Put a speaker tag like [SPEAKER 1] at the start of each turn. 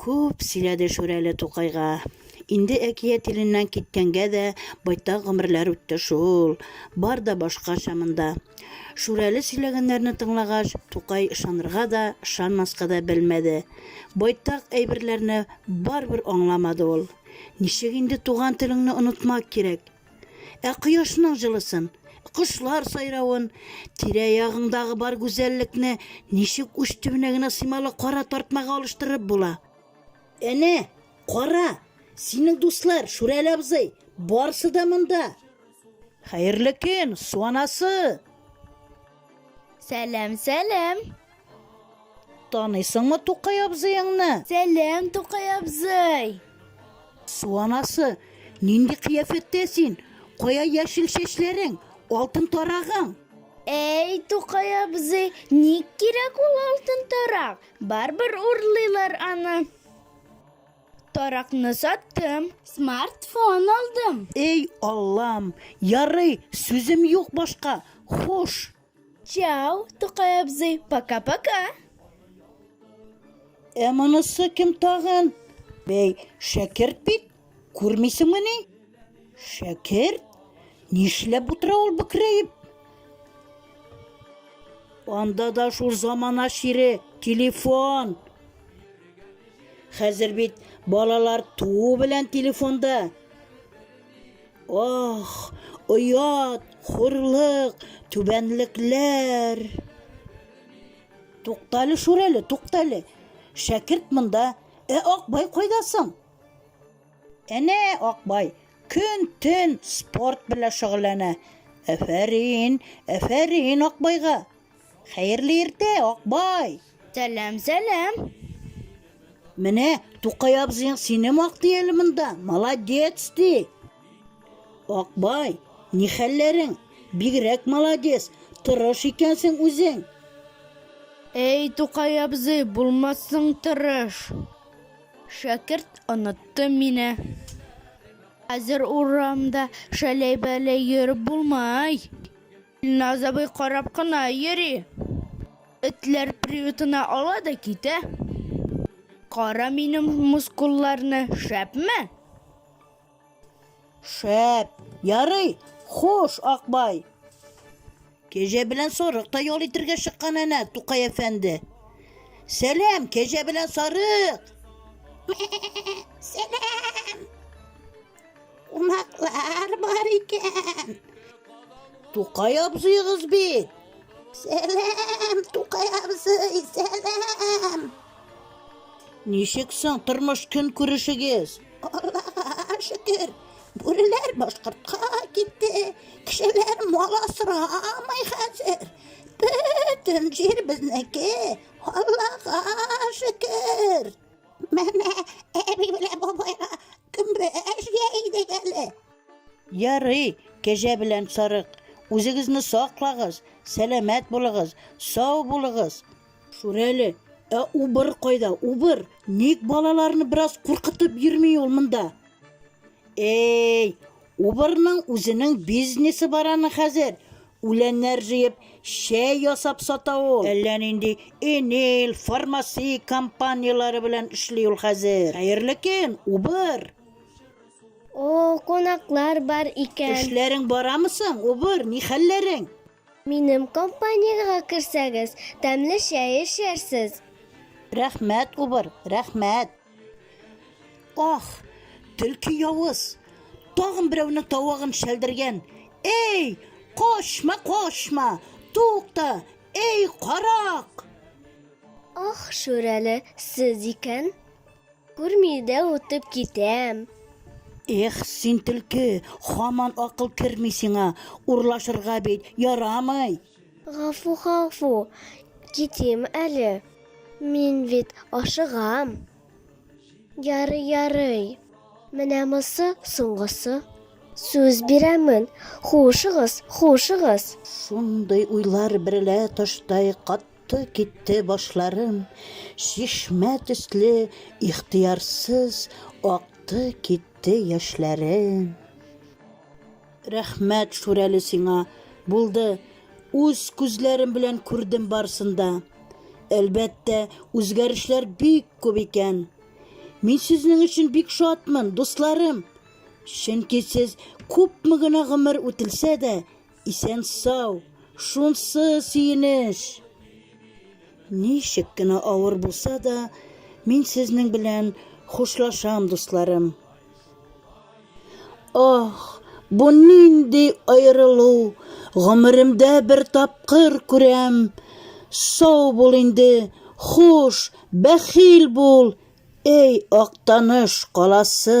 [SPEAKER 1] Күп сөйләде Шүрәле Тукайга. Инде әкият иленнән киткәнгә дә байтак гомерләр үтте шул. Бар да башкача монда. Шүрәле сөйләгәннәрне тыңлагач, Тукай ышанырга да, ышанмаска да белмәде. Байтак әйберләрне барыбер аңламады ул. Ничек инде туган телеңне онытмак кирәк? Ә кояшның җылысын, кошлар сайравын, тирә-ягыңдагы бар гүзәллекне ничек уч төбенә генә сыймалы кара тартмага алыштырып була? Әнә, кара, синең дуслар, Шүрәле абзый, барсы да монда! Хәерле көн, су анасы!
[SPEAKER 2] Сәлам, сәлам! Таныйсыңмы
[SPEAKER 1] Тукай абзыеңны? Сәлам, Тукай
[SPEAKER 2] абзый! Су
[SPEAKER 1] анасы, нинди кыяфәттә син? Кая яшел чәчләрең, алтын тарагың? Әй,
[SPEAKER 2] Тукай абзый, ник кирәк ул алтын тарак? Барбер урлыйлар аны. Таракны саттым, смартфон алдым. Эй, Аллам,
[SPEAKER 1] ярый, сүзем юк башка. Хуш! Чау,
[SPEAKER 2] Тукай абзый, пока-пока.
[SPEAKER 1] Ә монысы кем тагын? Бәй, шәкерт бит, күрмисеңме ни? Шәкерт? Нишләп утыра ул бөкрәеп? Анда да шул замана шире, телефон. Хәзер бит балалар туу белән телефонда. Ох, оят, хурлык, түбәнлекләр! Туктале, Шүрәле, туктале. Шәкерт монда, ә Акбай кайда соң? Әнә Акбай көн-төн спорт белән шөгыльләнә. Әфәрин, әфәрин Акбайга! Хәерле иртә, Акбай! Сәлам,
[SPEAKER 2] сәлам.
[SPEAKER 1] Менә Тукай абзыең сине мактый әле монда. Молодец ди. Акбай, ни хәлләрең? Бигрәк молодец, тырыш икәнсең үзең.
[SPEAKER 2] Әй, Тукай абзый, булмассың тырыш. Шәкерт онытты мине. Хәзер урамда шәләй-бәләй йөреп булмый. Илназ абый карап кына йөри. Этләр приютына ала да китә. Кара минем мускулларны, шәпме?
[SPEAKER 1] Шәп! Ярый, хуш, Акбай! Кәҗә белән сарык та ял итергә чыккан әнә, Тукай әфәнде. Сәлам, кәҗә белән сарык! Мә-ә-ә, сәлам! Кунаклар бар икән. Тукай абзыегыз бит. Сәлам, Тукай абзый, сәлам. Ничек соң тормыш көн күрешегез? Аллага шөкер. Бүреләр башкортка китте. Кешеләр мал асрамый хәзер. Бөтен җир безнеке. Аллага шөкер. Менә әби белән бабайга көмбәш җәйдек әле. Ярый, кәҗә белән сарык, үзегезне саклагыз, сәламәт булыгыз, сау булыгыз. Шүрәле, ә убыр кайда, убыр? Ник балаларны бераз куркытып йөрми ул монда? Әй, убырның үзенең бизнесы бар аның хәзер. Үләннәр җыеп, чәй ясап сата ул. Әллә нинди Энил, Фармаси компанияләре белән эшли ул хәзер. Хәерле көн, Убыр!
[SPEAKER 2] О-о, кунаклар бар икән. Эшләрең барамы
[SPEAKER 1] соң, Убыр, ни хәлләрең? Минем
[SPEAKER 2] компаниягә керсәгез, тәмле чәй эчәрсез. Рәхмәт,
[SPEAKER 1] Убыр, рәхмәт! Ах, төлке явыз, тагын берәүнең тавыгын шәлдергән. Эй, кошма, кошма, тукта, эй, карак!
[SPEAKER 2] Ах, шүрәле, сез икән. Күрми дә утып китәм. Эх,
[SPEAKER 1] син төлке, хаман акыл керми сиңа, урлашырга бит ярамый. Гафу,
[SPEAKER 2] гафу, китим әле. Мин бит ашыгам. Ярый, ярый. Менә мосы соңгысы. Сүз бирәмен, хушыгыз, хушыгыз.
[SPEAKER 1] Шундый уйлар берлә таштай кат Акты китте башларым, чишмә төсле ихтиярсыз акты китте яшьләрем. Рәхмәт, Шүрәле, сиңа! Булды, үз күзләрем белән күрдем барсын да. Әлбәттә, үзгәрешләр бик күп икән. Мин сезнең өчен бик шатмын, дусларым! Чөнки сез күпме генә гомер үтелсә дә, исән-сау, шунсы сөенеч! Ничек кенә авыр булса да, мин сезнең белән хушлашам, дусларым! Ох, бу нинди аерылу, гомеремдә бер тапкыр күрәм. Сау бул инде, хуш, бәхил бул, эй, Актаныш каласы!